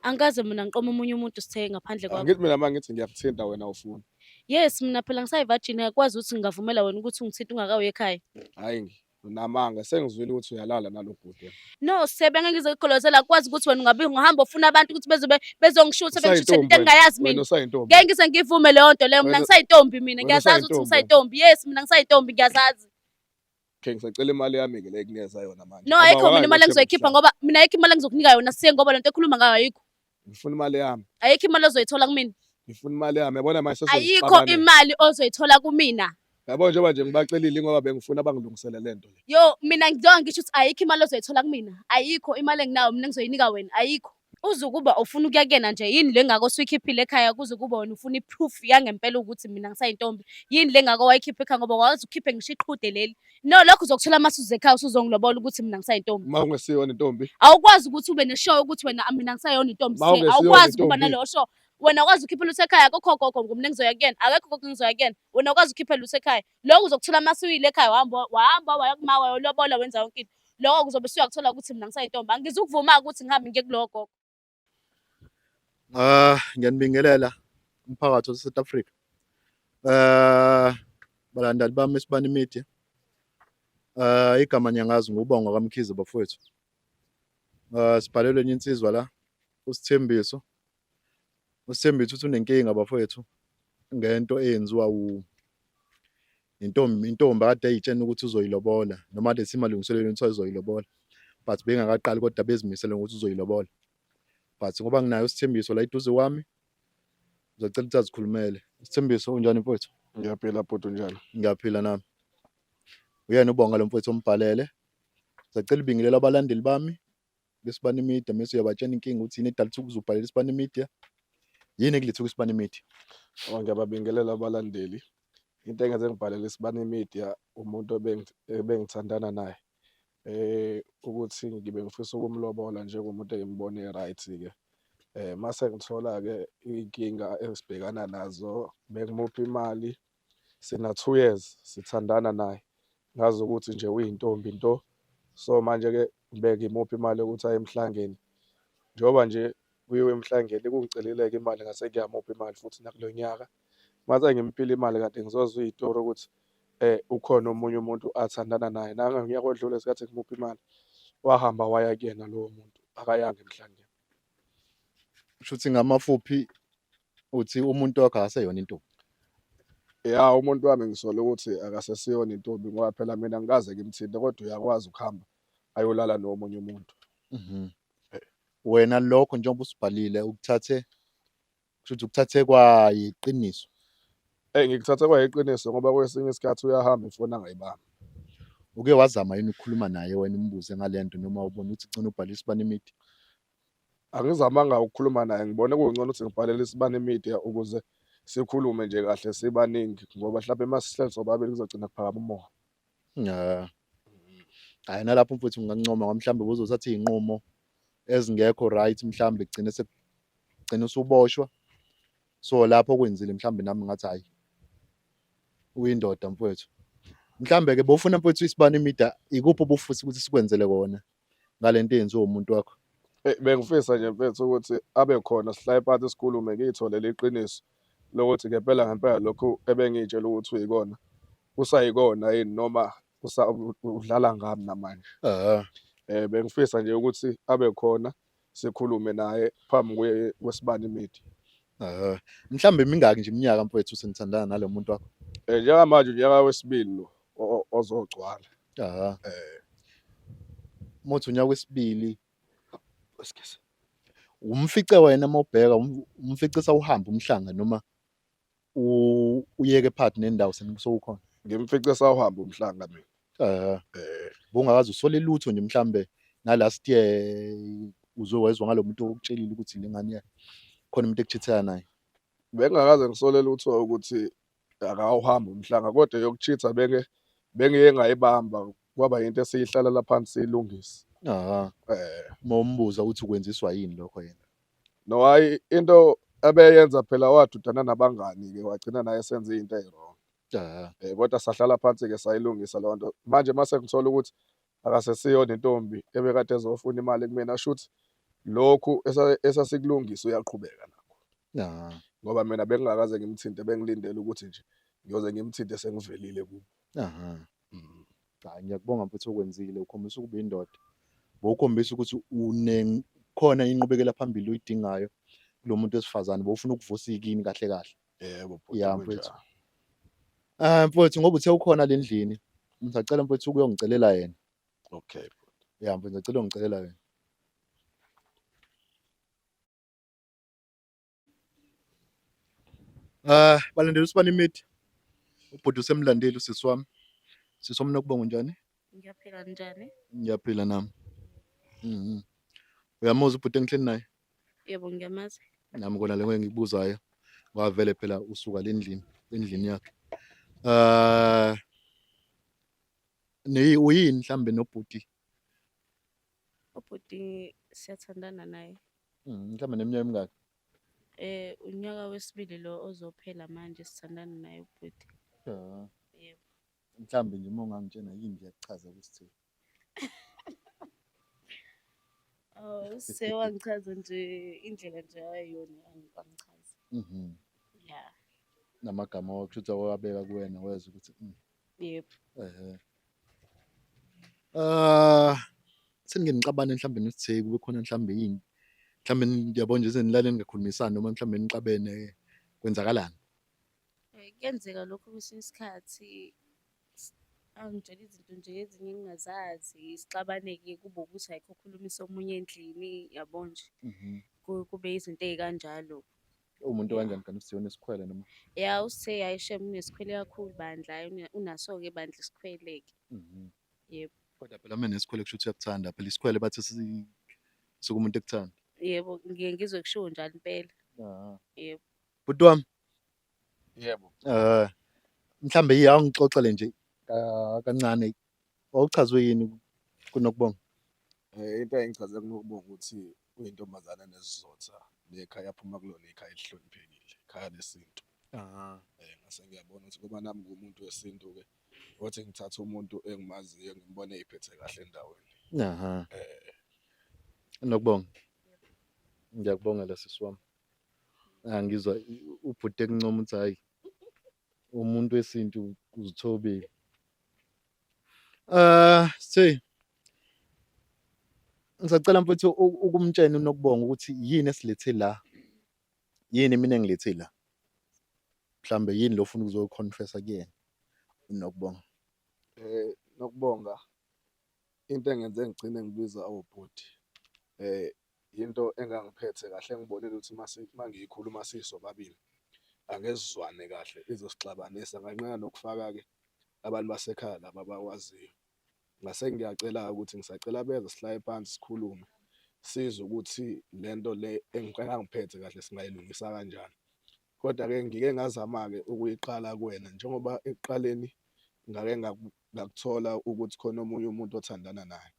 angikaze mina ngiqoma omunye umuntu sitheke ngaphandle kwakho angithi mina mangithi ngiyakuthinta wena ufuna yes mina phela ngisayivirgin akwazi ukuthi ngingavumela wena ukuthi ungithinta ungakawe ekhaya hayi ngi unamanga sengizwile ukuthi uyalala nalo bhuti no sebenga ngizokugolozela akwazi ukuthi wena ungabe ungahamba ufuna abantu ukuthi bezobe bezongishutha bengishuthe into engingayazi mina ngeke ngize ngivume leyo nto leyo mina ngisayintombi mina ngiyazazi ukuthi ngisayintombi yes mina ngisayintombi ngiyazazi Okay ngisacela imali yami ke le kunikeza yona manje. No ayikho mina imali engizoyikhipha ngoba mina ayikho imali engizokunika yona siye ngoba lento ekhuluma ngayo ayikho. Ngifuna imali yami. Ayikho imali ozoyithola kumina. Ngifuna imali yami yabona manje sesizixabana. Ayikho imali ozoyithola kumina. Yabo njengoba nje ngibacelile ngoba bengifuna bangilungisele lento le. Yo mina ngizowa ngisho ukuthi ayikho imali ozoyithola kumina. Ayikho imali enginayo mina ngizoyinika wena ayikho. Uzukuba ufuna ukuya kuyena nje yini le ngako suyikhiphile ekhaya kuzukuba wena ufuna i-proof yangempela ukuthi mina ngisayintombi yini le ngako wayikhipha ekhaya ngoba wazi ukhiphe ngisho iqhude leli no lokho uzokuthola uma suze ekhaya usuzongilobola ukuthi mina ngisayintombi uma ungesiyona intombi awukwazi ukuthi ube neshow ukuthi wena mina ngisayona intombi Uma se ungesiyona awukwazi ukuba intombi. naleyo show wena ukwazi ukhiphe lutho ekhaya kokho gogo ngumna engizoya kuyena akekho gogo engizoya kuyena wena ukwazi ukhiphe lutho ekhaya lokho uzokuthula uma suyile ekhaya wahamba wahamba waya kuma wayolobola wenza yonke into lokho kuzobe suyakuthola ukuthi mina ngisayintombi angizukuvuma-ke ukuthi ngihambe ngiye kulowo gogo Ah, ngiyanibingelela umphakathi waseSouth Africa. Eh, balandeli bami eSibani Media. Eh, igama ngiyangazi nguBonga kaMkhize bafowethu. Eh, sibhalelwe enye insizwa la, uSithembiso uSthembisa uthi unenkinga bafowethu ngento eyenziwa wu intombi intombi akade eyitshena ukuthi uzoyilobola noma kade simalungiselelo ukuthi azoyilobola but bengakaqali kodwa bezimisele ngokuthi uzoyilobola but ngoba nginayo isithembiso la iduze kwami ngizocela ukuthi azikhulumele isithembiso unjani mfowethu ngiyaphila bhuti unjani ngiyaphila nami uyena ubonga lo mfowethu ombhalele sacela ibingelela abalandeli bami kwisibani media mese uyabatshena inkinga ukuthi yini edalisa ukuze ubhalele isibani media yini ekulethe kwisibani media oh, ngiyababingelela abalandeli into engenze ngibhalele isibani media umuntu ebengithandana naye eh ukuthi ngibe ngifisa ukumlobola njengomuntu engimbone right ke eh mase ngithola ke inkinga esibhekana nazo bengimuphi imali sina two years sithandana naye ngazi ukuthi nje uyintombi nto so manje-ke ngibeke imuphi imali yokuthi aye emhlangeni njengoba nje kuyiwe emhlangeni kungiceleleke imali ngase kuyamupha imali futhi nakulo nyaka mase ngimpile imali kade ngizozwa iyitori ukuthi eh ukhona omunye umuntu athandana naye nanga ngiyako odlule isikhathi ngimupha imali wahamba waya kuyena lowo muntu akayanga emhlangeni kusho ukuthi ngamafuphi uthi umuntu wakho akaseyona intombi ya umuntu wami ngisole ukuthi akasesiyona intombi ngoba phela mina ngikaze ngimthinte kodwa uyakwazi ukuhamba ayolala nomunye umuntu mhm. wena lokho njengoba usibhalile ukuthathe kushuthi ukuthathe kwayiqiniso eh ngikuthathe kwayiqiniso ngoba kwesinye isikhathi uyahamba ifona ngayibamba uke wazama yini ukukhuluma naye wena umbuze ngalento noma ubona ukuthi cina ubhalisa bani imithi angizamanga ukukhuluma naye ngibone kungcono ukuthi ngibhalele isibani media ukuze sikhulume nje kahle sibaningi ngoba mhlawumbe uma sihleli sobabili kuzogcina kuphakama umoya ya hayi nalapho mfowethu ngingancoma ngoba mhlawumbe buzothatha iy'nqumo ezingekho right mhlawumbe kugcine sekugcina usuboshwa so lapho kwenzile mhlawumbe nami ngathi hhayi uyindoda mfowethu mhlawumbe-ke bofuna mfowethu isibani imida ikuphi obufuthi ukuthi sikwenzele kona ngalento eyenziwa umuntu wakho Eh, bengifisa nje mfethu ukuthi abe khona sihlaye phansi sikhulume ngiyithole liqiniso lokuthi ngempela ngempela lokhu ebengiyitshela ukuthi uyikona kusayikona yini noma udlala ngami namanje um bengifisa nje ukuthi abe khona sikhulume naye phambi kwe- kwesibani media Eh, mhlawumbe imingaki nje iminyaka mfowethu senithandana nalo muntu wakho Eh, njengamanje unyaka wesibili lo o- o- ozogcwala Aha. Eh. muthi unyaka wesibili Excuse. umfice wena uma ubheka um- umfice sawuhamba umhlanga noma uyeke part nendawo sekukhona ngimfice sawuhamba umhlanga mina eh eh bungakazi usole lutho nje mhlambe na last year uzwe wezwa ngalomuntu okutshelile ukuthi lengane yakhe khona umuntu ekuchithela naye bengakaze ngisole lutho ukuthi akawuhambi umhlanga kodwa yokuchitha benge bengeke ngayibamba kwaba into esiyihlalela phansi silungise aha eh mombuza ukuthi ukwenziswa yini lokho yena No hayi into abeyenza phela wadudana nabangani ke wagcina naye senze into ewrong. Yeah. Eh kodwa sahlala phansi ke sayilungisa leyo nto. Manje mase ngithola ukuthi akasesiyo nentombi ebekade ezofuna imali kumina shuthi lokhu esasikulungisa uyaqhubeka nakho. Yeah. Ngoba mina bengingakaze ngimthinte bengilindele ukuthi nje ngiyoze ngimthinte sengivelile kubo. Aha. mm. hayi ngiyakubonga mfuthu okwenzile ukhombisa ukuba indoda bowukhombisa ukuthi une khona inqubekela phambili uyidingayo kulo muntu wesifazane bowufuna ukuvusa ikini kahle kahle yebo ya mfuthu ah mfuthu ngoba uthe ukhona le ndlini ngisacela mfuthu ukuyongicelela yena okay ya mfuthu ngicela ungicelela yena Ah, balandela usibani imithi. Ubhuti usemlandeli usisi wami. Sisi wami nokubonga unjani? Ngiyaphila njani? Ngiyaphila nami. Mhm. Uyamuzwa ubhuti engihleli naye? Yebo ngiyamazi. Nami kona leyo engikubuzayo. Wavele phela usuka lendlini, endlini yakhe. Ah. Neyi uyini mhlambe nobhuti? Ubhuti siyathandana naye. Mm, mhlawumbe neminyaka emingaki? Eh unyaka wesibili lo ozophela manje sithandana naye ubhuti. Ja. Yebo. Mhlawumbe nje uma ungangitshena yini nje yakuchaza ukuthi Oh, sewangichaza nje indlela nje ayona angichaza. Mhm. Yeah. Namagama wakusho ukuthi wawabeka kuwena wezwa ukuthi mm. Yebo. Ehhe. Ah, sengike ngixabane mhlawumbe nesitheki kube khona mhlawumbe yini. Mhlawumbe ngiyabona nje senilale ningakhulumisani noma mhlawumbe nixabene kwenzakalani? Eh, Kuyenzeka lokho kwesinye isikhathi s- angitshela izinto nje ezinye engingazazi sixabane-ke kube ukuthi ayikho okhulumisa omunye endlini yabo nje Mhm. Ku- kube izinto ey'kanjalo umuntu okanjani kanti uSthe unesikhwele noma ya uSthe hayi shem unesikhwele kakhulu bandla unaso-ke bandla isikhwele-ke mhm. yebo kodwa phela uma nesikhwele kusho ukuthi uyakuthanda phela isikhwele bathi suke umuntu ekuthanda yebo ngiye ngizwe kushiwo njalo impela yebo bhuti wami yebo um mhlawumbe yiya ungixoxele nje kancane wawuchazwe yini kunokubonga um into engichazela kunokubonga ukuthi uyintombazane nesizotha nekhaya aphuma kulona ikhaya elihloniphekile ikhaya lesintu ah eh ngase ngiyabona ukuthi ngoba nami ngumuntu wesintu ke othi ngithatha umuntu engimaziyo ngimbone iphethe kahle endaweni aha eh nokubonga ngiyakubongela sisi wami angizwa ubhuti ekuncoma ukuthi hayi umuntu wesintu uzithobile uh say ngisacela mfethu ukumtshena unokubonga ukuthi yini esilethe la yini mina ngilethe la mhlambe yini lo ufuna ukuzoconfessa kuyena unokubonga eh nokubonga into engenze ngigcine ngibiza awobhuti oh, eh into engangiphethe kahle ngibonile ukuthi mase mangiyikhuluma sisobabili angezizwane kahle izosixabanisa nganqena nokufaka ke abantu basekhaya laba bakwaziyo ngase ngiyacela ukuthi ngisacela beze sihlaye phansi sikhulume sizwe ukuthi lento le engicela ngiphethe kahle singayilungisa kanjani Kodwa-ke ngike ngazama-ke ukuyiqala kuwena njengoba ekuqaleni ngake ngakuthola ukuthi khona omunye umuntu othandana naye.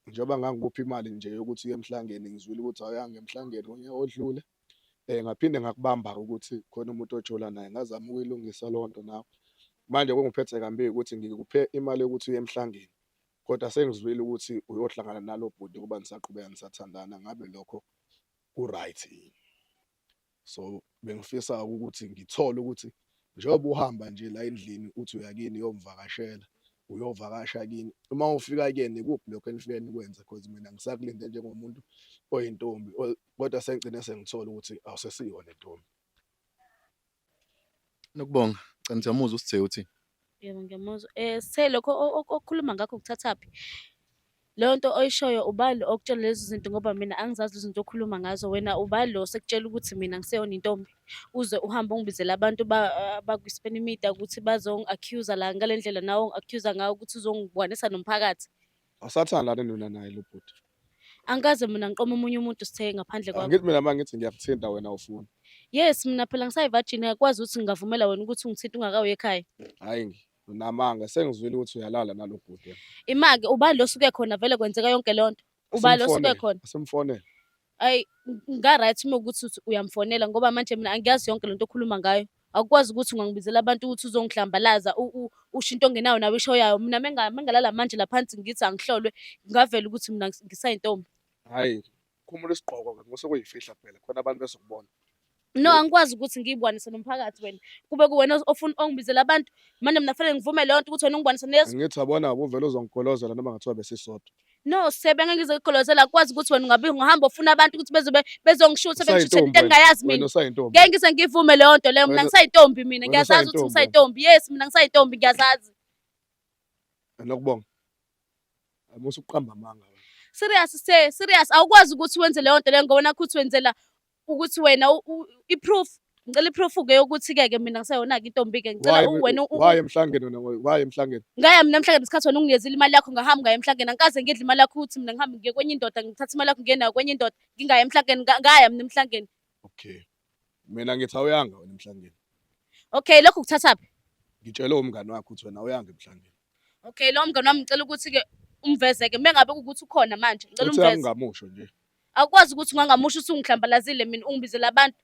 Njengoba ngangikupha imali nje yokuthi uye emhlangeni, ngizwile ukuthi awuyanga emhlangeni ngonyaka odlule. Ngaphinde ngakubamba-ke ukuthi khona umuntu ojola naye, ngazama ukuyilungisa leyo nto nawe. Manje okungiphethe kambi-ke ukuthi ngikuphe imali yokuthi uye emhlangeni kodwa sengizwile ukuthi uyohlangana nalo bhuti ngoba nisaqhubeka nisathandana, ngabe lokho ku-right yini? so bengifisa ukuthi ngithole ukuthi njengoba uhamba nje la endlini uthi uyakini uyomvakashela uyovakasha kini uma ufika kuyena ikuphi lokho enifike nikwenze because mina ngisakulinde njengomuntu oyintombi kodwa sengigcine sengithola ukuthi awusesiyona intombi Nokubonga. Cha ngiyamuzwa uSithe uthi. Yebo ngiyamuzwa. Eh Sithe lokho okhuluma ngakho kuthathaphi? Leyo nto oyishoyo ubani okutshela lezi zinto ngoba mina angizazi lezi zinto okhuluma ngazo wena ubani lo sekutshela ukuthi mina ngiseyona intombi uze uhambe ungibizela abantu bakwi-spanimedia ukuthi bazongi-accuser la ngale ndlela nawe ongi-accuser ngayo ukuthi uzongibonisa nomphakathi Awusathanda lana nona naye lo bhuti. Angikaze mina ngiqoma omunye umuntu sithe ngaphandle kwakho. Angithi mina mangithi ngiyakuthinta wena ufuna. Yes mina phela ngisayi virgin ayikwazi ukuthi ngingavumela wena ukuthi ungithinte ungakawe ekhaya. Hayi ngi unamanga sengizwile ukuthi uyalala nalo bhuti. Imake ubani lo suke khona vele kwenzeka yonke lonto. Ubani lo suke khona? Simfonele. Ayi ngingaright uma ukuthi uthi uyamfonela ngoba manje mina angiyazi yonke lento okhuluma ngayo. Awukwazi ukuthi ungangibizela abantu ukuthi uzongihlambalaza u- u- usho into ongenayo nawe ishoyayo. Mina menga- mengalala manje la phansi ngithi angihlolwe ngavela ukuthi mina ngis- ngisayintombi. Hhayi, khumula isigqoko-ke ngoba sekuyifihla phela khona abantu bezokubona. no angikwazi ukuthi ngiyibwanise nomphakathi wena kube kuwena ofuna ongibizela abantu manje mina fanele ngivume leyo nto ukuthi wena ungibwanise nezo ngithi abona ubuvele uzongigolozela noma ngathiwa besisodwa no sebe ngeke ngizogolozela akwazi ukuthi wena ungabe ungahamba ufuna abantu ukuthi bezobe bezongishutha bengishuthe into engingayazi mina ngeke ngise ngivume leyo nto leyo mina ngisayintombi mina ngiyazazi ukuthi ngisayintombi yes mina ngisayintombi ngiyazazi nokubonga amusuqamba amanga serious se serious awukwazi ukuthi wenze leyo nto leyo ngoba nakho uthi wenzela ukuthi wena i-proof ngicela i-proof ke yokuthi ke ke mina ngisayona ke intombi ke ngicela wena waye emhlangeni wena waye emhlangeni ngaya mina emhlangeni isikhathi wena unginyezile imali yakho ngahamba ngaya emhlangeni angikaze ngidle imali yakho ukuthi mina ngihambe ngiye kwenye indoda ngithatha imali yakho ngiye nayo kwenye indoda ngingaya emhlangeni ngaya mina emhlangeni okay mina ngithi awuyanga wena emhlangeni okay lokho kuthatha phi ngitshelwe umngane wakho ukuthi wena awuyanga emhlangeni okay lo mngane wami ngicela ukuthi ke umveze ke mengabe ukuthi ukhona manje ngicela umveze ungamusho nje Akwazi ukuthi ungangamusha usungihlambalazile mina ungibizela abantu.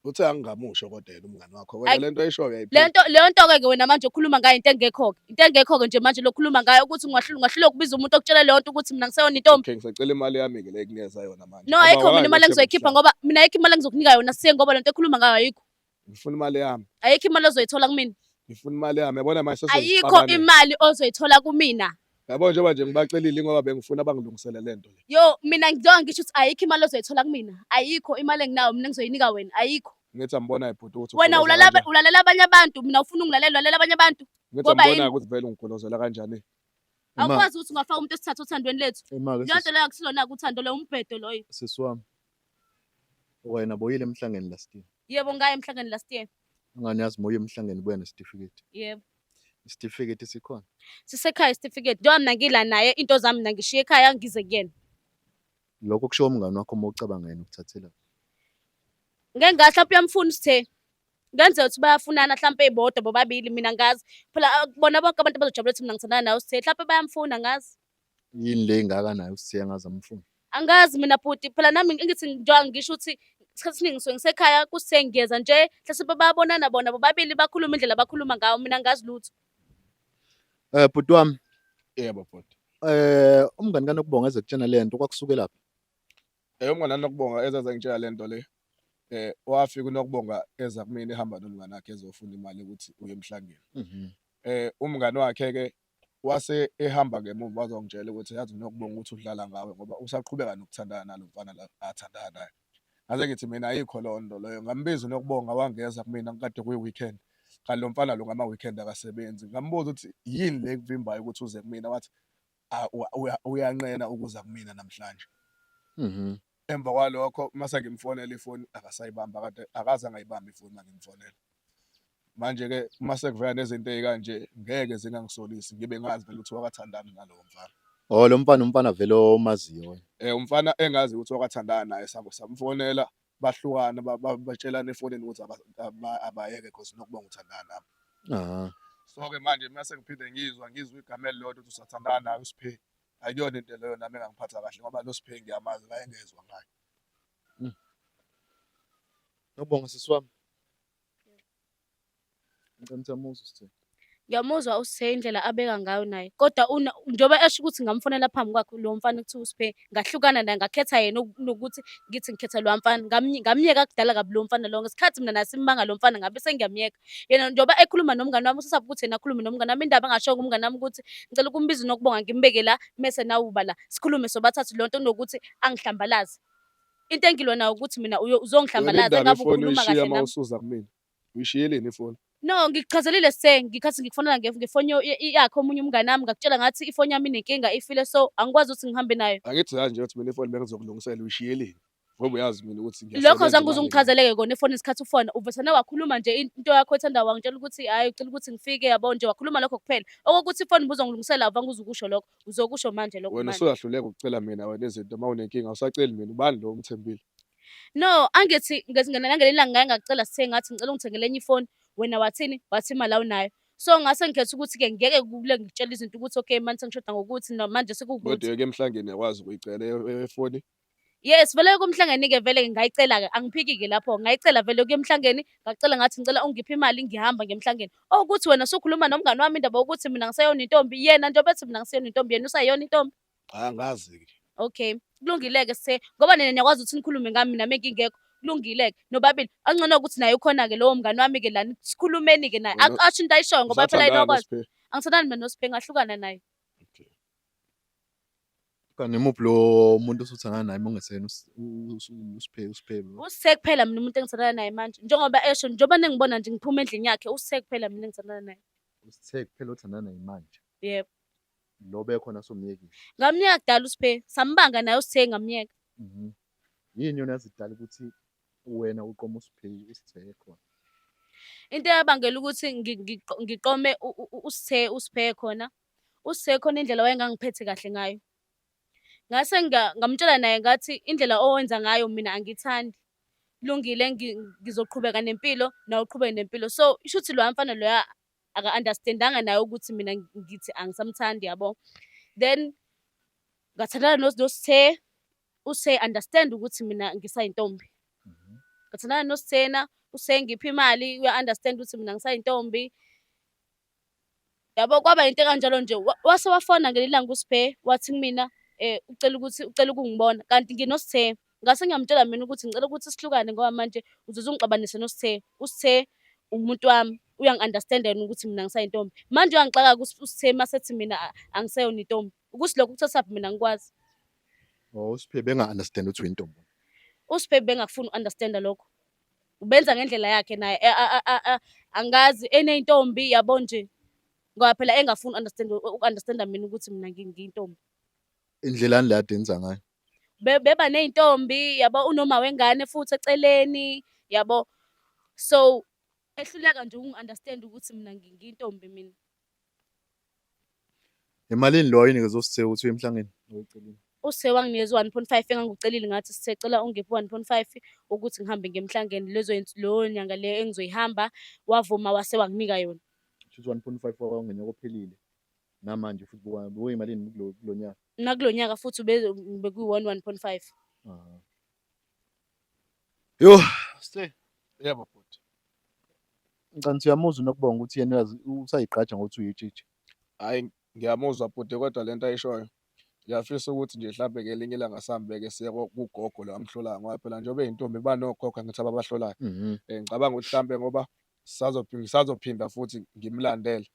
Uthe angingamusho kodwa yena umngane wakho. Wena lento ayishoyo yayiphila. Lento lento ke ke wena manje ukhuluma ngayo into engekho ke. Into engekho ke nje manje lokhuluma ngayo ukuthi ngiwahlula ngahlula ukubiza umuntu okutshela leyo nto ukuthi mina ngiseyona intombi. Okay ngisacela imali yami ke le kunikeza yona manje. No ayikho mina imali engizoyikhipha ngoba mina ayikho imali engizokunika yona siye ngoba lento ekhuluma ngayo ayikho. ngifuna imali yami ayikho imali ozoyithola kumina ngifuna imali yami yabona manje ayikho sesizixabane imali ozoyithola kumina yabo njengoba nje ngibacelile ingoba bengifuna abangilungisele le nto le yo mina ngizoke ngisho ukuthi ayikho imali ozoyithola kumina ayikho imali enginayo mina ngizoyinika wena ayikho ngithi ambona ibhuti ukuthi wena ugoloza ulala kanjani. ulalela abanye abantu mina ufuna ungilalela ulalela abanye abantu ngithi ngoba ambona yini? ukuthi vele ungigolozela kanjani Ima- awukwazi ukuthi ungafaka umuntu esithatha othandweni lethu imake leyo nto leyo akusilona-ke uthando loyo umbhedo loyo sisi wami Wena boyile emhlangeni last year. Yebo ngaye emhlangeni last year. Ngani yazi moya emhlangeni buya nesitifiketi. Yebo. Isitifiketi sikhona. Sisekhaya isitifiketi. Njengoba mina ngila naye into zami mina ngishiye ekhaya ngize kuyena. Lokho kushiwo umngane wakho uma ucabanga yena ukuthathela. Ngeke ngathi lapho uyamfuna usithe. Kwenze ukuthi bayafunana mhlampe ibodwa bobabili mina ngazi. Phela ah, bona bonke abantu bazojabulela ukuthi mina ngithandana nawe usithe. Mhlampe bayamfuna ngazi. yini le ingaka nayo usiya ngazi amfuni angazi mina bhuti phela nami ngithi njengoba ngisho ukuthi isikhathi esiningi ngisuke ngisekhaya kusengeza nje mhlawumbe babonana bona bobabili bakhuluma indlela abakhuluma ngawo mina ngazi lutho eh bhuti wami yebo bhuti eh umngani kanokubonga eze kutshena le nto kwakusukela phi eh umngani kanokubonga eze zengitshela le nto le eh wafika unokubonga eza kumina ehamba nomngane wakhe ezofuna imali ukuthi uye emhlangeni mhm. eh umngane wakhe ke Wase ehamba ngemuva wazongitshela ukuthi yazi nokubonga ukuthi udlala ngawe ngoba usaqhubeka nokuthandana nalo mfana la athandana naye. Ngase ngithi mina ayikho leyo nto leyo. Ngambiza unokubonga wangeza kumina kukade kuyi-weekend. Kanti lo mfana lo ngama-weekend akasebenzi. Ngambuza ukuthi yini le ekuvimbayo ukuthi uze kumina? Wathi uyanqena ukuza kumina namhlanje. Mhm. Emva kwalokho uma sengimfonela ifoni akasayibamba kade akaze angayibamba ifoni uma ngimfonela. Manje-ke uma sekuvela nezinto ey'kanje ngeke zingangisolisi ngibe ngazi vele ukuthi wakathandana nalowo mfana. Oh lo mfana umfana vele omaziyo wena. Eh umfana engazi ukuthi wakathandana naye sam- samfonela bahlukana ba- ba- batshelana efonini ukuthi aba- aba- abayeke cause nokuba ngithandana nami. Ah. So-ke manje uma sengiphinde ngizwa ngizwa igama elilodwa ukuthi usathandana naye uSphe ayiyona into leyo nami engangiphatha kahle ngoba lo siphe ngiyamazi la engezwa ngayo hmm. Ngiyabonga sisi wami. Ngicela ukuthi amuzwe sithe. Ngiyamuzwa usithe indlela abeka ngayo naye. Kodwa una njengoba esho ukuthi ngamfonela phambi kwakhe lo mfana kuthiwa usiphe ngahlukana naye ngakhetha yena nokuthi ngithi ngikhetha lo mfana ngamyeka kudala kabi lo mfana lo ngesikhathi mina nasimanga lo mfana ngabe sengiyamyeka. yena njengoba ekhuluma nomngane wami usasaba ukuthi yena akhulume nomngane wami indaba angasho kumngane wami ukuthi ngicela ukumbiza unokubonga ngimbeke la mese nawuba la sikhulume sobathathu lonto kunokuthi angihlambalaze into engilwa nayo ukuthi mina uzongihlambalaza engabe ukhuluma kahle nami usuza kumina uyishiyeleni ifoni no ngikuchazelile se ngikhathi ngikufonela ngefoni yakhe omunye umngane wami ngakutshela ngathi ifoni yami inenkinga ifile so angikwazi ukuthi ngihambe nayo angithi kanje ukuthi mina ifoni bengizokulungisela uyishiyeleni ngoba uyazi mina ukuthi ngiyasebenza lokho zange uze ungichazeleke kona efoni isikhathi ufona uvesane wakhuluma nje into yakho ethanda wangitshela ukuthi hhayi ucela ukuthi ngifike yabo nje wakhuluma lokho kuphela okokuthi ifoni ubuzongilungisela avange uze ukusho lokho uzokusho manje lokho wena manje usuyahluleka ukucela mina wena izinto uma unenkinga awusaceli mina ubani lo umthembile no angithi ngezingena nangelinye ilanga ngaye ngakucela sithe ngathi ngicela ungithengele enye ifoni wena wathini wathi imali awunayo so ngase ngikhetha ukuthi ke ngeke kule ngitshela izinto ukuthi okay manje sengishoda ngokuthi no manje kodwa sekuwukuthi yeke emhlangeni yakwazi ukuyicela e- e- efoni Yes, vele kumhlangeni-ke vele ngingayicela-ke angiphiki-ke lapho ngayicela vele kuyemhlangeni ngacela ngathi ngicela ungiphe imali ngihamba ngemhlangeni okuthi wena usukhuluma nomngani wami indaba yokuthi mina ngiseyona intombi yena nto bethi mina ngiseyona intombi yena usayona intombi angazi-ke okay kulungile-ke se ngoba nina niyakwazi ukuthi nikhulume ngami mina mengingekho kulungile-ke nobabili angcono ukuthi naye ukhona-ke lowo mngani wami-ke lani sikhulumeni-ke naye Mina- asho into ayishoyo ngoba phela Usathandana inokwazi noSphe? angithandani mina noSphe ngahlukana naye Okay. Kanti imuphi lo muntu osuthangana naye mongesena uSiphe uSiphe lo? Usithe kuphela mina umuntu engithandana naye manje njengoba esho njengoba nengibona nje ngiphuma endlini yakhe usithe kuphela mina engithandana naye Usithe kuphela othandana naye manje. yebo Lo bekhona somyekile. ngamyeka kudala usiphe sambanga naye usithe ngamyeka Mhm. Yini yona yazidala ukuthi wena uqoma uSiphe uSithe khona. into eyabangela ukuthi ngi- ngiqo- ngiqome u- u- u- usithe usiphe khona uSe khona indlela wayengangiphethe kahle ngayo. Ngase ngamtshela naye ngathi indlela owenza ngayo mina angithandi. Kulungile ngizoqhubeka nempilo nawe uqhubeke nempilo. So isho ukuthi loya mfana loya aka-understand-anga naye ukuthi mina ngithi angisamthandi yabo. Then ngathandana noSthe, uSe understand ukuthi mina ngisayintombi. Mhm. Ngathandana noSthena, uSe ngipha imali uya-understand ukuthi mina ngisayintombi. yabo kwaba into kanjalo nje wase wafona ngelinye ilanga uSphe wathi kumina eh ucela ukuthi ucela ukungibona kanti nginosithe ngase ngiyamtshela mina ukuthi ngicela ukuthi sihlukane ngoba manje uzoze ungixabanise nosithe usithe umuntu wami uyangi-understanda yena ukuthi mina ngisayintombi manje uyangixaka usithe masethi mina angiseyona intombi ukuthi lokho kuthathaphi mina ngikwazi oh usiphe benga-understand ukuthi uyintombi usiphe bengakufuni u-understanda lokho ubenza ngendlela yakhe naye eh, ah, ah, ah, ah, angazi eneyintombi yabo nje ngoba phela engafuni understand ukunderstanda mina ukuthi mina ngi- ngiyintombi indlelani le ade enza ngayo Be- beba neyintombi yabo unoma wengane futhi eceleni yabo so ehluleka nje ukungi-understand ukuthi mina ngi- ngiyintombi mina Emalini lo ayinikeza uSithe ukuthi uye emhlangeni ocelile? USithe wanginikeza u-1.5 engangucelile ngathi Sithe cela ungiphe u-1.5 ukuthi ngihambe ngiye emhlangeni lezo leyo nyanga le engizoyihamba wavuma wase wanginika yona. Shuthi 1.5 wakho ngenyaka ophelile namanje futhi buka buka imalini kulo kulo nyaka. Nakulo nyaka futhi bekuyi-1 1.5. Aha. Yo, stay. Yebo futhi. Ngicela ukuthi uyamuzwa nokubonga ukuthi yena uyazi usayigqaja ngokuthi uyitshitshi. Hayi ngiyamuzwa bhuti kodwa lento ayishoyo. Ngiyafisa ukuthi nje mhlampe ngelinye ilanga sihambeke siye ko- kugogo lo amhlolayo ngoba phela njengoba eyintombi iba nogogo angithi ababahlolayo. Mhm. Eh, ngicabanga ukuthi mhlampe ngoba sazophi- ngisazophinda futhi ngimlandele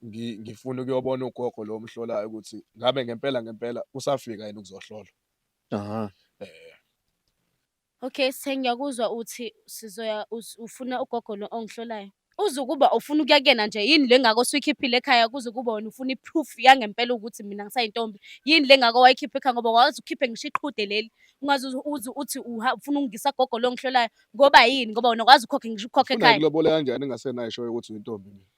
ngi- ngifuna ukuyobona ugogo lo omhlolayo ukuthi ngabe ngempela ngempela usafika yini ukuzohlolwa. Aha. Eh. Okay, sengiyakuzwa uthi sizoya us- ufuna ugogo lo ongihlolayo. Uzukuba ufuna ukuya kuyena nje yini le ngako suyikhiphile ekhaya kuze kuba wena ufuna i-proof yangempela ukuthi mina ngisayintombi. Yini le ngako wayikhipha ekhaya ngoba wazi ukhiphe ngisho iqhude leli. Ungaze uze- uze uthi uha- ufuna ukungisa gogo lo ongihlolayo ngoba yini ngoba wena wazi ukhokhe ngisho ukhokhe Ufuna ekhaya. ngikulobola kanjani engasenayo ishoyo ukuthi uyintombi mina.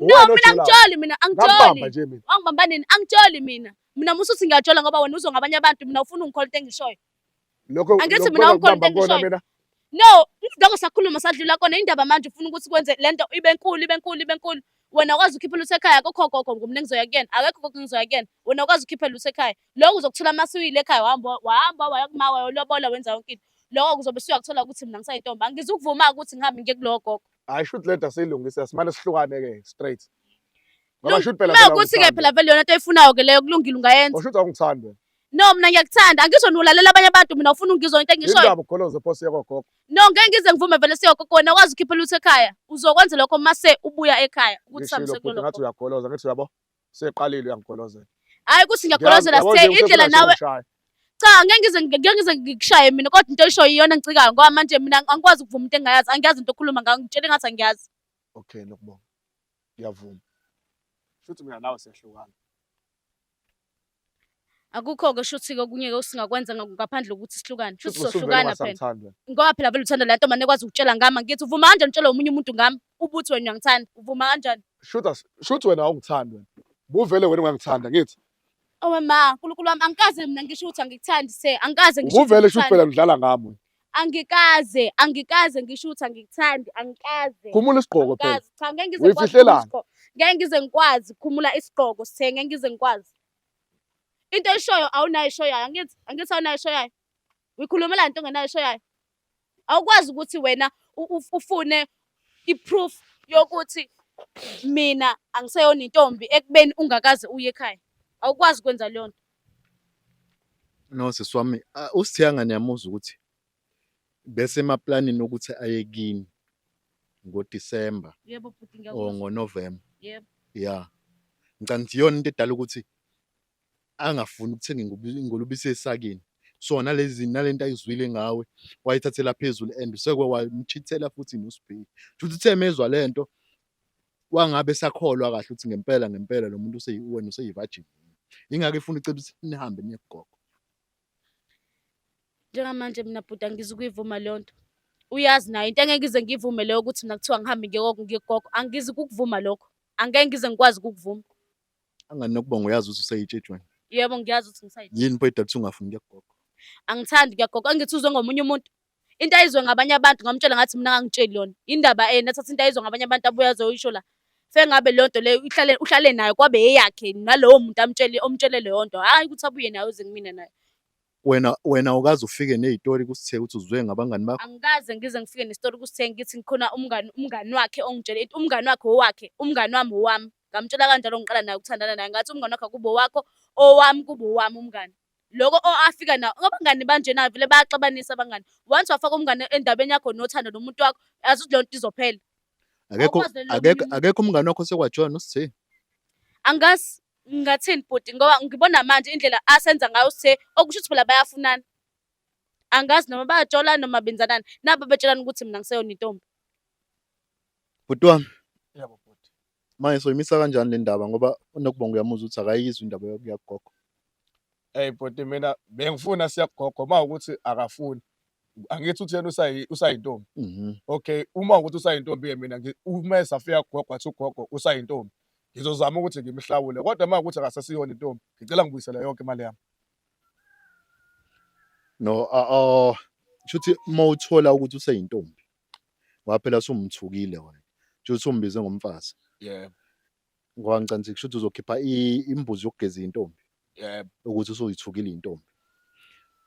No, Uwena mina ojolayo. angitsholi mina Ngakubamba angitsholi. nje mina. Wangibamba nini? Angitsholi mina. Mina musa uthi ngiyajola ngoba wena uzwa ngabanye abantu mina ufuna ungikhola into engishoyo. Lokho Angithi lokho mina awukho ngakubamba into kona engishoyo. mina. No, lokho sakhuluma sadlula kona indaba manje ufuna ukuthi kwenze lento ibe nkulu ibe nkulu ibe nkulu. Wena ukwazi ukhipha lutho ekhaya akukho gogo ngoba mina ngizoya kuyena. Akekho gogo ngizoya kuyena. Wena ukwazi ukhipha lutho ekhaya. Lokho uzokuthola masiwile ekhaya wahamba wahamba waya kumawa wayolobola wenza yonke into. Lokho kuzobe suyakuthola ukuthi mina ngisayintombi. Angizukuvuma ukuthi ngihambe ngiye kulowo gogo. hayi shoot le nto asiyilungise simane sihlukane ke straight ngoba shoot phela uma ukuthi ke phela vele yona into eyifunayo ke leyo kulungile ungayenza ushuthi awungithandi wena no mina ngiyakuthanda angizwa niwulalela abanye abantu mina ufuna ungizwa into engishoyo indaba ukholoze phosi yakogogo no ngeke ngize ngivume vele siyogogo wena wazi ukhiphela uthi ekhaya uzokwenza lokho mase ubuya ekhaya ukuthi samse kulokho ngathi uyagoloza ngithi uyabo Seqalile uyangigolozela. Hayi kuthi ngiyagolozela sithe indlela nawe. Cha ngeke ngize ngeke ngize ngikushaye mina kodwa into eshoyo iyona ngicikayo ngoba manje mina angikwazi ukuvuma into engayazi angiyazi into okhuluma ngayo ngitshele ngathi angiyazi. Okay nokubonga. Ngiyavuma. Shuthi mina nawe siyahlukana. akukho-ke shuthi-ke okunye-ke usingakwenza nga- ngaphandle kokuthi sihlukane shuthi Shuthi usuke sohlukana phela ungasamthanda. ngoba phela vele uthanda le nto mane ekwazi ukutshela ngami angithi uvuma kanjani utshela omunye umuntu ngami ubuthi wena uyangithanda uvuma kanjani Shuthi as- shuthi wena awungithandi wena. Ubuvele wena ungangithanda ngithi. owe ma nkulunkulu wami angikaze mina ngisho ukuthi angikuthandi se angikaze ngisho ukuthi Ubuvele shuthi ngikuthanda. phela udlala ngami wena. Angikaze, angikaze ngisho ukuthi angikuthandi, angikaze. Khumula isigqoko phela. Angikaze. Cha ngeke ngize ngikwazi. khumula Uyifihlelani? isigqoko. Ngeke ngize ngikwazi khumula isigqoko sithe ngeke ngize ngikwazi. Into eshoyo awunayo eshoyayo angithi angithi awunayo eshoyayo. Uyikhulumela into ongenayo eshoyayo. Awukwazi ukuthi wena u- u- ufune i-proof yokuthi mina angiseyona intombi ekubeni ungakaze uye ekhaya. Awukwazi ukwenza leyo nto. No sisi wami uSithiyanga niyamuzwa ukuthi bese emaplanini ukuthi aye kini ngoDisemba Yebo bhuti or ngiyakuzwa. ngoNovemba. Yebo. Ya. Ngicabanga ukuthi iyona into edala ukuthi angafuni ukuthenga ingubi- ingulubisi esakini. So nalezi nalento ayizwile ngawe wayithathela phezulu and useke wamchithela futhi noSibheki. Futhi uthe mezwa lento wangabe sakholwa kahle ukuthi ngempela ngempela lo muntu useyiwena useyivajini ingake ifuna icebo ukuthi nihambe niye kugogo njengamanje mina bhuti angizi ukuyivuma leyo nto uyazi nayo into engeke ngize ngiyivume leyo ukuthi mina kuthiwa ngihambe ngiyegogo ngiyegogo angizi kukuvuma lokho angeke ngize ngikwazi ukukuvuma angani nokubonga uyazi ukuthi useyitshejweni yebo ngiyazi ukuthi ngisayitshejweni yini boyidala ukuthi ungafuni kuyagogo angithandi kuyagogo angithi uzwe ngomunye umuntu into ayizwe ngabanye abantu ngamtshela ngathi mina ngangitsheli yona indaba ena eh, thatha into ayizwe ngabanye abantu abuye azoyisho la sengabe leyo nto leyo uhlale uhlale nayo kwabe eyakhe nalowo muntu amtshele omtshele leyo nto hayi ukuthi abuye nayo uze kumina nayo wena wena ukaze ufike nezitori kusithe ukuthi uzwe ngabangani bakho angikaze ngize ngifike nezitori kusithe ngithi ngikhona umngani umngani wakhe ongitshele umngani wakhe owakhe umngani wami owami ngamtshela kanjalo ngiqala naye ukuthandana naye ngathi umngani wakhe kubo wakho owami kubo wami umngani loko o afika nawo ngoba ngani banjena vele bayaxabanisa abangani once wafaka umngane endabeni yakho nothando nomuntu wakho yazi ukuthi leyo nto izophela akekho Awukwazi nje akekho ukulima. akekho umngane wakho sekwajona usithe angazi ngathini bhuti ngoba ngibona manje indlela asenza ngayo usithe okusho ukuthi phela bayafunana angazi noma bayajola noma benzanani nabo betshelana ukuthi mina ngiseyona intombi bhuti wami Yebo bhuti. Manje soyimisa kanjani le ndaba ngoba unokubonga uyamuzwa ukuthi akayizwi indaba yokuya kugogo. Hey bhuti mina bengifuna siya kugogo uma ukuthi akafuni. Angithi uthi yena usayi usayintombi. Mhm. Okay, uma ukuthi usayintombi ke mina ngi- uma esafika kugogo athi ugogo usayintombi. Ngizozama ukuthi ngimhlawule kodwa uma ukuthi akasesiyona intombi ngicela ngibuyisele yonke imali yami. No, ah, ah, shuthi uma uthola ukuthi useyintombi. ngoba phela sumthukile wena kusho ukuthi umbize ngomfazi yebo ngoba ngicabanga ukuthi uzokhipha imbuzi yokugeza intombi yebo ukuthi usoyithukile intombi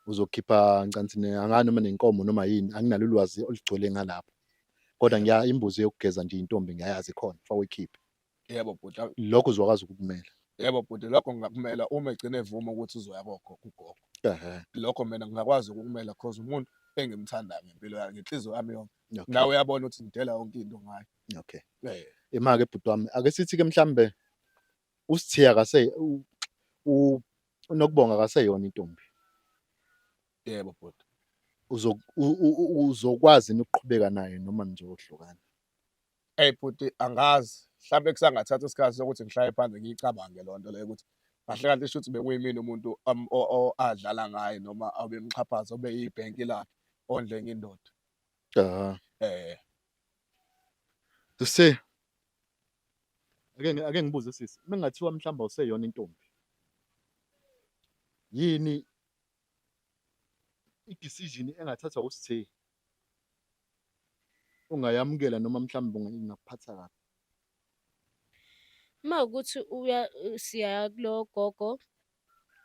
uzokhipha ncanthi angani noma nenkomo noma yini anginalo ulwazi olugcwele ngalapho kodwa ngiya imbuzi yokugeza nje intombi ngiyayazi khona fawikhiphe yebo bhuti awu, lokho uzokwazi ukukumela yebo bhuti lokho ngingakumela uma egcine evuma ukuthi uzoya kokho kugogo ehe lokho mina ngingakwazi ukukumela cause umuntu engimthandayo ngempilo yakhe ngenhliziyo yami yonke okay. nawe uyabona ukuthi ngidela yonke into ngayo okay Eh, ima-ke bhuti wami ake sithi-ke mhlawumbe usithiya kase u- u- unokubonga kaseyona intombi yebo bhuti Uzo- u- u- u- uzokwazi yini ukuqhubeka naye noma nizohlukana Eyi bhuti angazi mhlawumbe kusangathatha isikhathi sokuthi ngihlaye phansi ngiyicabange loo nto leyo ukuthi kahle kahle isho ukuthi bekuyimina umuntu um, adlala ngaye noma abemxhaphaza obe yibhenki lakhe ondle enye indoda um eh. sisi ake ake ngibuze sisi uma kungathiwa mhlawumbe useyona intombi yini i-decision engathathwa usithe ungayamukela noma mhlawumbe unga- ingakuphatha kabi uma ukuthi uya siyaya kulowo gogo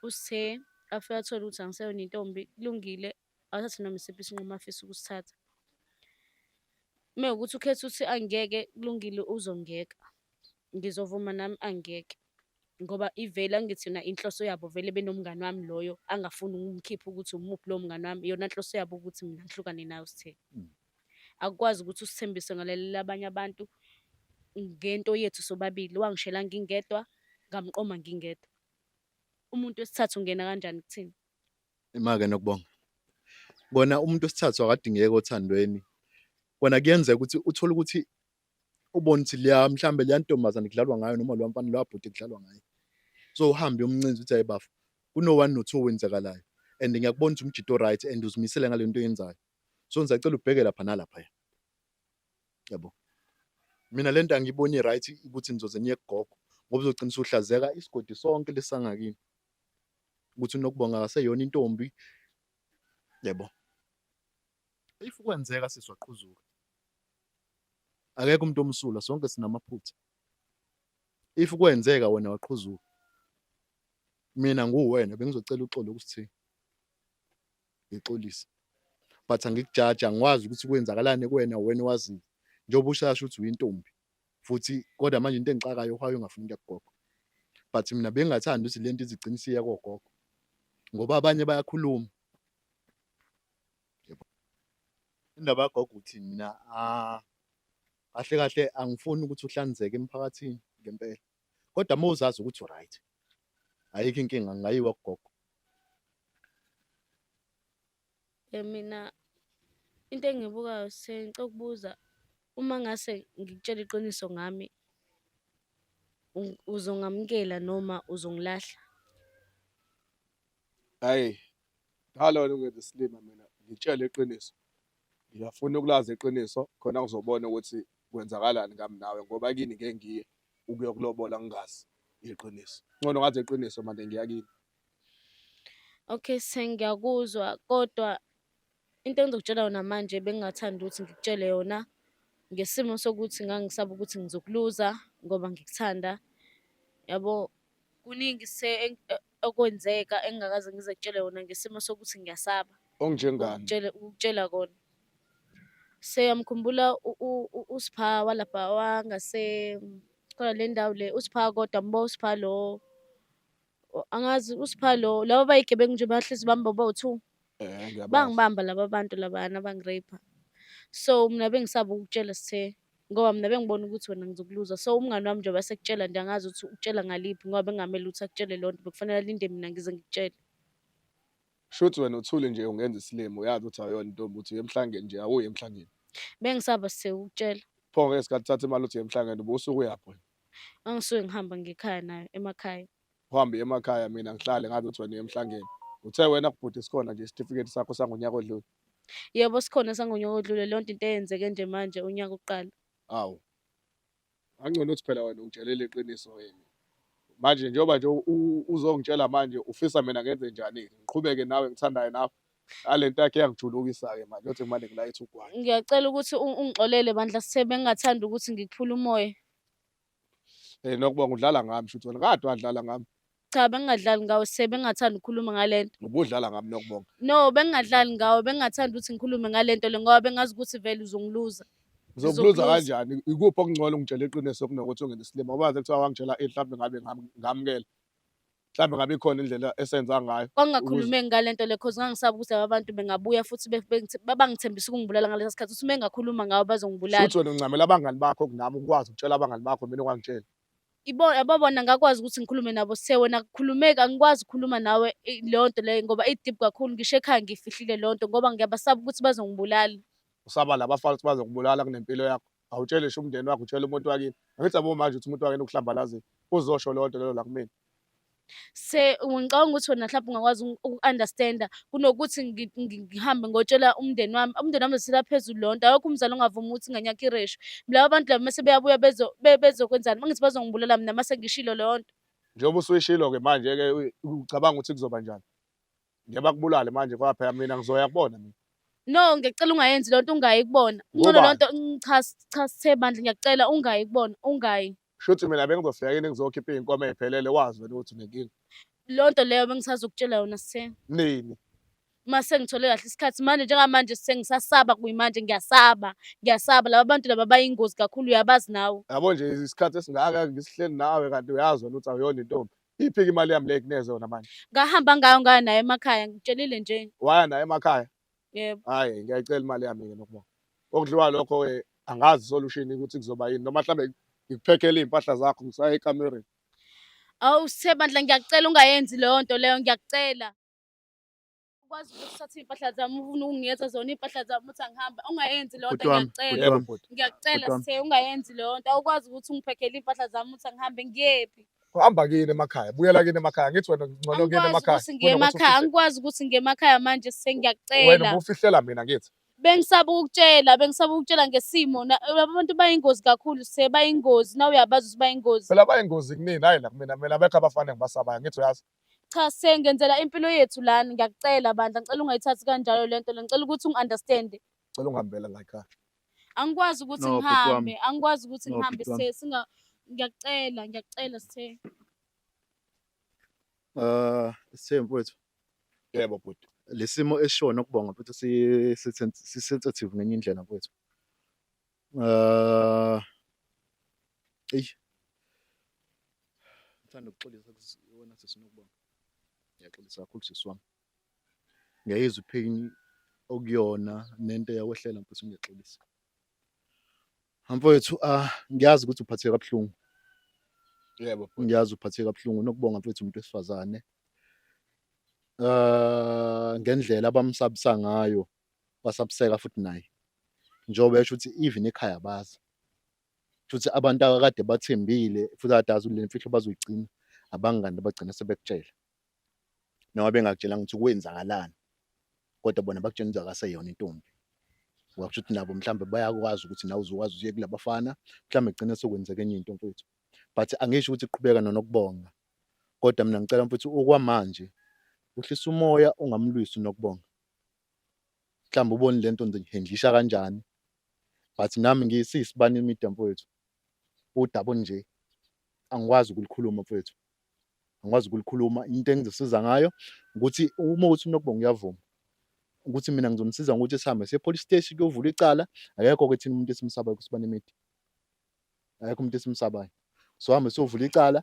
usithe afike athole ukuthi angiseyona intombi kulungile awuthathe noma isiphi isinqumo afisa ukusithatha uma ukuthi ukhetha ukuthi angeke kulungile uzongiyeka ngizovuma nami angiyeke ngoba ivele angithi yona inhloso yabo vele benomngani wami loyo angafuni ukumkhipha ukuthi umuphi lowo mngani wami yona nhloso yabo ukuthi mina ngihlukane nayo sithe mm. akukwazi ukuthi usithembise ngalalela abanye abantu ngento yethu sobabili wangishela ngingedwa ngamqoma ngingedwa umuntu wesithathu ungena kanjani kuthina imake nokubonga kona umuntu wesithathu akadingeki othandweni kona kuyenzeka ukuthi uthole ukuthi ubone ukuthi liya mhlambe liya ntombazane kudlalwa ngayo noma lo mfana lo abhuti kudlalwa ngayo so uhambe umncinza uthi ayibafo kuno 1 no 2 wenzakalayo and ngiyakubona ukuthi umjito right and uzimisele ngale nto yenzayo so ngisacela ubheke lapha nalapha ya yabo mina lento angiboni right ukuthi nizoze niye kugogo ngoba uzogcina usuhlazeka isigodi sonke lesangakini ukuthi unokubonga akaseyona intombi yebo if kwenzeka siswaqhuzuka akekho umuntu omsulwa sonke sinamaphutha if kwenzeka wena waqhuzuka mina nguwena bengizocela uxolo ukuthi ngixolise but angikujaja ngiwazi ukuthi kwenzakalani kuwena wena wazi njengoba ushasha ukuthi uyintombi futhi kodwa manje into engixakayo uhayo ungafuni into yakugogo but mina bengingathandi ukuthi lento izigcina isiya kogogo ngoba abanye bayakhuluma indaba yagogo ukuthi mina ah, kahle kahle angifuni ukuthi uhlanzeke emphakathini ngempela kodwa uma uzazi ukuthi uright ayikho inkinga ngingayiwa kugogo Eh, mina into engibukayo sengicela ukubuza uma ngase ngikutshela iqiniso ngami u- uzongamukela noma uzongilahla? Hhayi, Dala wena ungenza isilima mina ngitshele iqiniso. Ngiyafuna ukulazi iqiniso khona ngizobona ukuthi kwenzakalani ngami nawe ngoba kini ngeke ngiye ukuyokulobola ngingazi iqiniso. Ngcono ngazi iqiniso manje ngiya kini. Okay sengiyakuzwa kodwa Into engizokutshela yona manje bengingathanda ukuthi ngikutshele yona ngesimo sokuthi ngangisaba ukuthi ngizokuluza ngoba ngikuthanda. Yabo kuningi se okwenzeka engingakaze ngize kutshele yona ngesimo sokuthi ngiyasaba Onjengani? ukutshela ukutshela kona. Seyamkhumbula uSpha walapha wangase khona le ndawo le uSpha kodwa mbo uSpha lo O- angazi usipha lo laba bayigebengu nje bahlezi bamba bobo two Eh, ngiyabazi. bangibamba laba bantu labana bangirape so mina bengisaba ukutshela sithe ngoba mina bengibona ukuthi wena ngizokuluza so umngane wami njengoba sekutshela nje angazi ukuthi ukutshela ngaliphi ngoba bengamele ukuthi akutshele loo nto bekufanele alinde mina ngize ngikutshele Shuthi wena uthule nje ungenza isilimo uyazi ukuthi awuyona intombi uthi uyemhlangeni nje awuye emhlangeni. bengisaba sithe ukutshela Pho ngeke sikhathi thatha imali uthi uyemhlangeni ubusuku uyaphi wena? angisuke ngihamba ngekhaya nayo emakhaya uhambe emakhaya mina ngihlale ngazi ukuthi wena uye emhlangeni uthe wena kubhuti sikhona nje isitifiketi sakho sangonyaka odlule yebo sikhona sangonyaka odlule leyo nto into eyenzeke nje manje unyaka uqala awu angcono uthi phela wena ungitshelele iqiniso yini manje njengoba nje uzongitshela manje ufisa mina ngenze njani ngiqhubeke nawe ngithandayo nawe alento yakhe yangijulukisa-ke manje yothi kumane ngilayithe ugwayi ngiyacela ukuthi ungixolele bandla sithe bengingathanda ukuthi ngikuphule umoya um nokubonga udlala ngami shuthi wena kade wadlala ngami cha bengingadlali ngawe sithe bengingathanda ukukhuluma ngale nto ubudlala ngami nokubonga no bengingadlali ngawe bengingathanda ukuthi ngikhulume ngale nto le ngoba bengazi ukuthi vele uzongiluza ngizokuluza kanjani ikuphi okungcono ungitshela iqiniso kunokuthi ungene isilima ubaze kuthiwa wangitshela ihlawumbe ngabe ngamukela mhlawumbe ngabe ikhona indlela esenza ngayo kwangingakhulumeki ngale nto le cause ngangisaba ukuthi laba bantu bengabuya futhi be- bengithe- babangithembisa ukungibulala ngalesa sikhathi ukuthi uma engakhuluma ngawo bazongibulala futhi wena uncamela abangani bakho kunami ukwazi ukutshela abangani bakho mina ungangitsheli ibo ababona ngakwazi ukuthi ngikhulume nabo sithe wena kukhulumeki angikwazi ukukhuluma nawe i- leyo nto leyo ngoba idip kakhulu ngisho ekhaya ngiyifihlile leyo nto ngoba ngiyabasaba ukuthi bazongibulala usaba laba fana ukuthi bazokubulala kunempilo yakho awutshele sho umndeni wakho utshele umuntu wakini angithi yabo manje ukuthi umuntu wakini ukuhlambalazile uzosho loo nto lelo la kumina se ngicabanga ukuthi wena mhlawumbe ungakwazi uku-understanda kunokuthi ngi- ngi- ngihambe ngotshela umndeni wami umndeni wami uzisela phezulu loo nto awekho umzali ongavumi ukuthi ingane yakho ireshwe laba bantu laba mese beyabuya bezo- be- bezokwenzani uma ngithi bazongibulala mina mase ngishilo leyo nto njengoba usuyishilo-ke manje-ke u- ucabanga ukuthi kuzoba njani Ngeke bakubulale manje ngoba phela mina ngizoya kubona mina. No, ngicela ungayenzi lento ungayi kubona. Ngcono lonto cha cha sithe bandla ngiyacela ungayi kubona, ungayi. Shuthi mina bengizofika yini ngizokhipha inkomo eziphelele wazi wena ukuthi unenkingi. Lonto leyo bengisazokutshela yona sithe. Nini? uma sengithole kahle isikhathi manje njengamanje sengisasaba kuyimanje ngiyasaba ngiyasaba laba bantu laba bayingozi kakhulu uyabazi nawe yabo nje isikhathi esingaka ngisihleli nawe kanti uyazi wena ukuthi awuyona intombi Iphi ke imali yami le kuneze yona manje? Ngahamba ngayo ngayo naye emakhaya ngitshelile nje. Waya naye emakhaya? Yebo. Hayi ngiyayicela imali yami ke nokubona. Okudliwa lokho ke eh, angazi solution ukuthi kuzoba yini noma mhlambe ngikuphekele impahla zakho ngisaye ekamereni. Awu Sebandla ngiyakucela ungayenzi leyo nto leyo ngiyakucela. ukwazi ukuthi uthathe iy'mpahla zami ufuna ukungiyenza zona iy'mpahla zami uthi angihambe ungayenzi leyo nto ngiyakucela ngiyakucela sithe ungayenzi leyo nto awukwazi ukuthi ungiphekhele iy'mpahla zami uthi angihambe ngiyephi hamba kini emakhaya buyela kini emakhaya ngithi wena ngcono kini emakhaya ukuthi ngiye emakhaya angikwazi ukuthi ngiye emakhaya manje sengiyacela wena ufihlela mina ngithi bengisaba ukutshela bengisaba ukutshela ngesimo abantu bayingozi kakhulu se bayingozi na uyabazi ukuthi bayingozi phela bayingozi kunini hayi la kumina mina bekho abafana ngibasabayo ngithi uyazi Cha sir ngenzela impilo yethu lana ngiyakucela bandla ngicela ungayithathi kanjalo lento le ngicela ukuthi ungi-understand. Cela ungihambela la ekhaya. Angikwazi ukuthi No, bhuti wami. ngihambe angikwazi ukuthi No, ngihambe bhuti wami. sir singa ngiyakucela ngiyakucela sithe. Ah, Sithembu mfowethu, Yebo bhuti. lesimo esishona kubonga futhi si si- sensitive ngenye indlela mfowethu. Uh, eyi ngithanda ukuxolisa wena sisi nokubonga ngiyaxolisa kakhulu sisi wami ngiyayizwa ipain okuyona nento eyakwehlela mfethu ngiyaxolisa mfowethu ah ngiyazi ukuthi uphatheke kabuhlungu yebo ngiyazi uphatheke kabuhlungu nokubonga mfethu umuntu wesifazane uh ngendlela abamsabisa ngayo wasabuseka futhi naye njengoba esho ukuthi even ekhaya bazi futhi abantu akade bathembile futhi adazi le mfihlo bazoyigcina abangani abagcina sebekutshela noma bengakutshela ukuthi kwenzakalani kodwa bona bakutshela ukuthi akaseyona intombi wakusho ukuthi nabo mhlawumbe bayakwazi ukuthi nawe uzokwazi uye kulabafana mhlawumbe kugcina sokwenzeka enye into mfethu but angisho ukuthi qhubeka nonokubonga kodwa mina ngicela mfethu okwamanje uhlisa umoya ungamlwisi nokubonga mhlawumbe ubone le nto ndihendlisha kanjani but nami ngisiyisibani imida mfowethu udaba nje angikwazi ukulikhuluma mfowethu angikwazi ukulikhuluma into engizosiza ngayo ukuthi uma ukuthi unokubonga uyavuma ukuthi mina ngizomsiza ngokuthi sihambe siye police station kuyovula icala akekho ke thina umuntu esimsabayo kusibani imidi akekho umuntu esimsabayo so hambe siyovula icala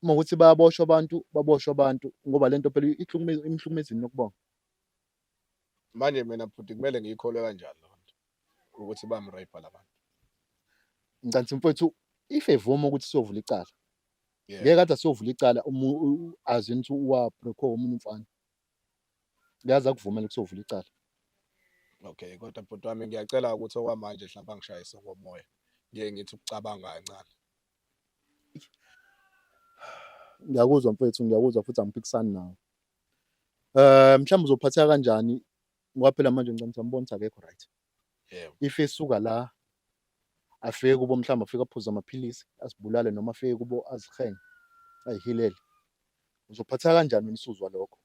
uma ukuthi bayaboshwa abantu baboshwa abantu ngoba lento phela ihlukumeza imhlukumezini nokubonga manje mina bhuti kumele ngiyikholwe kanjani lonto ukuthi bamrape labantu ncansi mfowethu if evuma ukuthi siyovula icala ngeke kade siyovula icala azi ukuthi uwabreko omunye umfana kuyazi akuvumela ukuthi siyovula icala okay kodwa bhuti wami ngiyacela ukuthi okwamanje mhlawumbe angishayise ngomoya ngiye ngithi ukucabanga kancane ngiyakuzwa mfethu ngiyakuzwa futhi angiphikisani nawe um mhlawumbe uzophatheka kanjani ngoba phela manje ngicela ukuthi ambone ukuthi akekho right if esuka la afike kubo mhlawumbe afike aphuze amaphilisi asibulale noma afike kubo azihenge ayihilele uzophatheka kanjani wena usuzwa lokho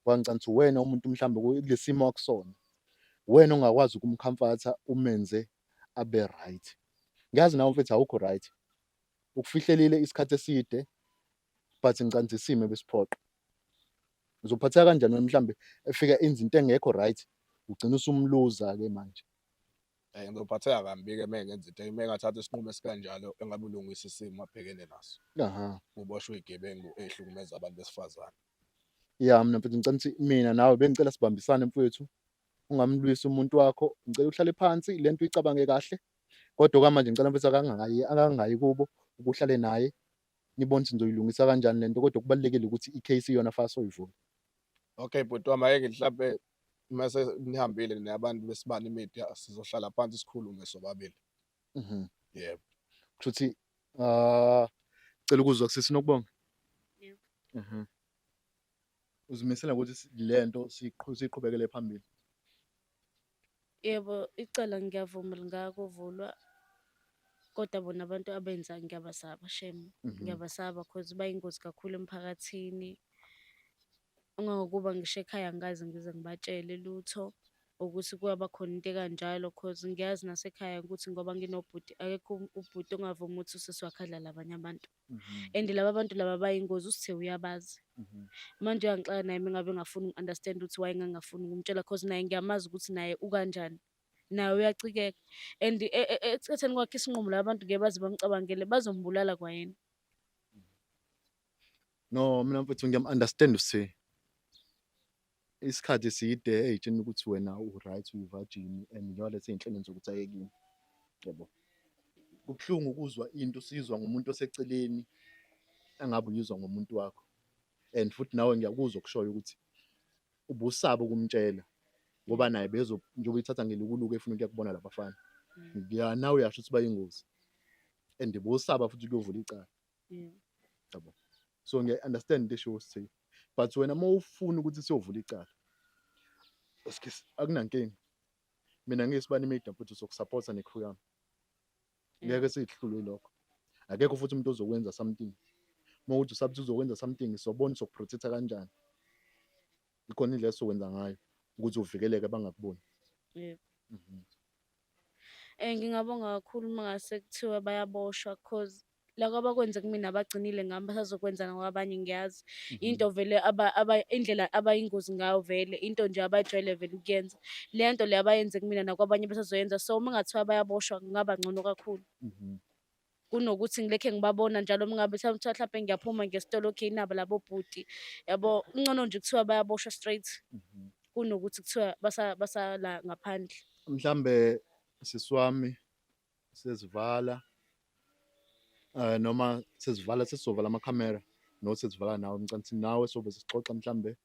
wangicela ukuthi uwena umuntu mhlawumbe kulesimo akusona wena ongakwazi ukumkhamfatha umenze abe right ngiyazi nawe mfethu awukho right ukufihlelile isikhathi eside but ngicanza isimo ebesiphoqa uzophatheka kanjani wena mhlambe efika enza into engekho right ugcina usumluza ke manje eh ngizophatheka kambi ke meke ngenza into meke athatha isinqumo esikanjalo engabe ulungisa isimo abhekene naso aha uboshwe igebengu ehlukumeza abantu besifazane ya mina mfethu ngicela ukuthi mina nawe bengicela sibambisane mfethu ungamlwisi umuntu wakho ngicela uhlale phansi le nto uyicabange kahle kodwa okwamanje ngicela mfethu akangayi akangayi kubo ukuhlale naye nibone ukuthi nizoyilungisa kanjani le nto kodwa kubalulekile ukuthi i-case yona fast oyivula okay bhuti wami ayeke mhlampe mase nihambile nabantu besibani media sizohlala phansi sikhulume sobabili mhm yebo kusho ukuthi ah cela ukuzwa kusisi nokubonga yebo mhm uzimisele ukuthi si- le nto siqhu- siqhubekele phambili Yebo, icala ngiyavuma lingakuvulwa kodwa bona abantu abenza ngiyabasaba shem. Mhm. Ngiyabasaba cause bayingozi kakhulu emphakathini. Ungangokuba ngisho ekhaya angikaze ngize ngibatshele lutho ukuthi kuyaba khona into ekanjalo cause ngiyazi nasekhaya ukuthi ngoba nginobhuti akekho um- ubhuti ongavuma ukuthi usisi wakhe adlale abanye abantu. Mhm. and laba bantu laba bayingozi usithe uyabazi Mhm. manje uyangixaka naye mengabe ngafuni uku-understand ukuthi waye ngangafuni ukumtshela cause naye ngiyamazi ukuthi naye ukanjani naye uyacikeka and e- e- e- ekutheni kwakhe isinqumo laba bantu ngeke baze bamcabangele bazombulala kwayena no mina mfethu ngiyam-understand usi isikhathi eside eyitshena ukuthi wena uright uyivajini and njengolethe iy'nhlelweni zokuthi ayekini yebo kubuhlungu ukuzwa into usizwa ngumuntu oseceleni angabe uyizwa ngomuntu wakho and futhi nawe ngiyakuzwa okushoyo ukuthi ubusaba ukumtshela ngoba naye bezo njengoba ithatha ngelukuluku efuna ukuya kubona labafana mm. ngiya nawe uyasho ukuthi bayingozi and bosaba futhi kuyovula icala yeah yabo so ngiya understand into esho say but wena uma ufuna ukuthi siyovula icala excuse akunankinga mina ngisibani media futhi sokusupporta necrew yami ngeke sihlulwe lokho akekho futhi umuntu ozokwenza something uma uthi usabuthi uzokwenza something sobona sokuprotecta kanjani ikhona indlela esokwenza ngayo ukuthi uvikeleke bangakuboni yebo mhm. eh ngingabonga kakhulu mangase kuthiwe bayaboshwa because loko abakwenze kumina abagcinile ngami basazokwenza nakwabanye ngiyazi mhm. into vele indlela abayingozi ngayo vele into nje abayijwayele vele ukuyenza le nto le abayenze kumina nakwabanye basazoyenza so uma kungathiwa bayaboshwa kungaba ngcono kakhulu mhm. kunokuthi ngilekhe ngibabona njalo mingabe kuthiwa mhlawumpe ngiyaphuma ngesitolo okay nabo labo bhuti yabo kungcono nje kuthiwa bayaboshwa straight mhm. kunokuthi kuthiwa basala ngaphandle mhlambe siswami sezivala uh, noma sezivala sesizovala amakhamera no sezivala nawe emcansini nawe sobe sixoxa mhlambe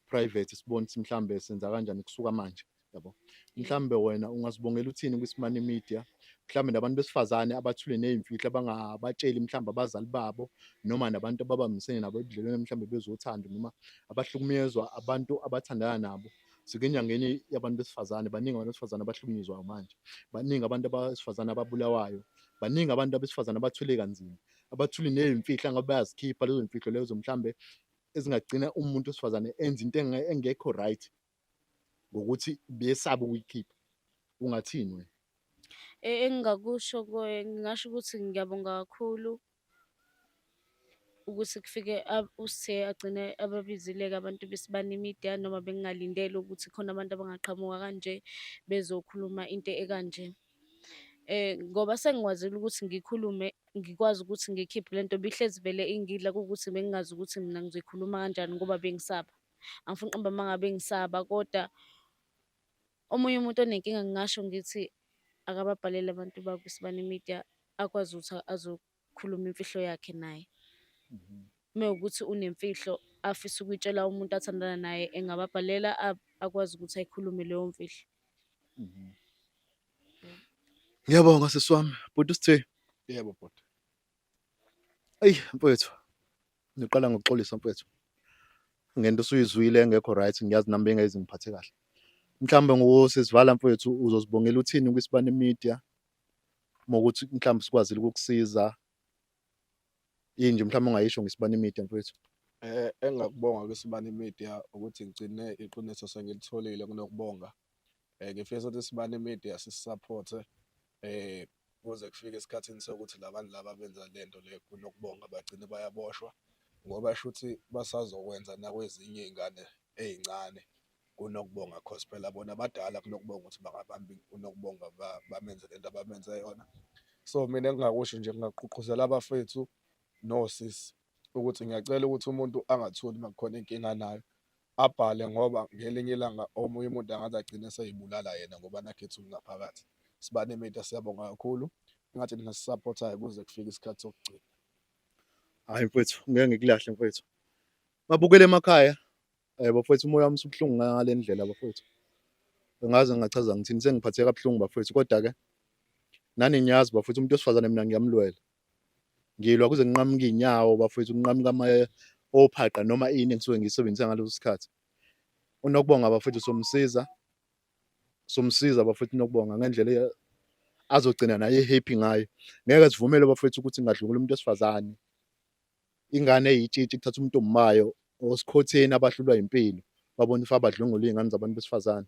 private sibone ukuthi mhlambe senza kanjani kusuka manje yabo mhlambe wena ungasibongela uthini kwisimani media mhlambe nabantu besifazane abathule nezimfihlo abangabatsheli mhlambe abazali babo noma nabantu ababambisene nabo ebudlelweni mhlambe bezothanda noma abahlukumezwa abantu abathandana nabo sikenyangeni yabantu besifazane baningi abantu besifazane abahlukunyezwayo manje baningi abantu abesifazane ababulawayo baningi abantu abesifazane abathwele kanzima abathuli nezimfihlo ngabe bayazikhipha lezo zimfihlo lezo mhlambe ezingagcina umuntu wesifazane enza into engekho right ngokuthi besaba ukuyikhipha ungathini wena e, engingakusho ngingasho ukuthi ngiyabonga kakhulu ukuthi kufike uSthe agcine ababizile-ke abantu besibani imidiya noma bengingalindele ukuthi khona abantu abangaqhamuka kanje bezokhuluma into ekanje. Eh, ngoba sengikwazile ukuthi ngikhulume ngikwazi ukuthi ngikhiphe le nto bihlezi vele ingidla kuwukuthi bengingazi ukuthi mina ngizoyikhuluma kanjani ngoba bengisaba. Angifuni uqamba amanga bengisaba koda Omunye umuntu onenkinga ngingasho ngithi akababhalele abantu bakuSibani Media akwazi ukuthi azokhuluma imfihlo yakhe naye. Mhm. Mewukuthi unemfihlo afisa ukuyitshela umuntu athandana naye engababhalela akwazi ukuthi ayikhulume leyo mfihlo. Mhm. Ngiyabonga sisi wami, bhuti Sithwe. Yebo bhuti. Eyi mfowethu, Ngiqala ngokuxolisa mfethu ngento osuyizwile engekho right ngiyazi nami bengayezi ngiphathe kahle mhlawumbe ngokusisivala mfethu uzosibongela uthini kwisibani media mokuthi mhlawumbe sikwazile ukukusiza yini nje mhlawumbe ungayisho ngisibani media mfethu Eh engakubonga kwisibani media ukuthi ngigcine iqiniso sengilitholile kunokubonga um ngifisa ukuthi sibane media sisisaphothe um kuze kufike esikhathini sokuthi labantu laba benza le nto le kunokubonga bagcine bayaboshwa ngoba shuthi basazokwenza nakwezinye iy'ngane ey'ncane kunokubonga cause phela bona badala kunokubonga ukuthi bangabambi kunokubonga bamenze le nto abamenze yona so mina engingakusho nje ngingaqhuqhuzela abafethu nosisi ukuthi ngiyacela ukuthi umuntu angathuli uma kukhona inkinga anayo abhale ngoba ngelinye ilanga omunye umuntu angaze agcine seyibulala yena ngoba nakhetha ukungaphakathi sibane media siyabonga kakhulu ngathi nina sisupportayo kuze kufike isikhathi sokugcina hayi mfethu ngeke ngikulahle mfethu babukele emakhaya eh bafethu umoya wami usubuhlungu ngale ndlela bafethu ngaze ngachaza ngithini sengiphatheka kabuhlungu bafethu kodwa ke nani ngiyazi bafethu umuntu osifazane mina ngiyamlwela ngilwa kuze nginqamuke inyawo bafowethu nginqamuka ama ophaqa noma ini engisuke ngisebenzisa ngaleso sikhathi unokubonga bafowethu somsiza somsiza bafowethu unokubonga ngendlela azogcina naye happy ngayo ngeke sivumele bafowethu ukuthi ngadlungula umuntu esifazane ingane eyitshitshi kuthatha umuntu omumayo osikhotheni abahlulwa impilo babona ifa abadlungula izingane zabantu besifazane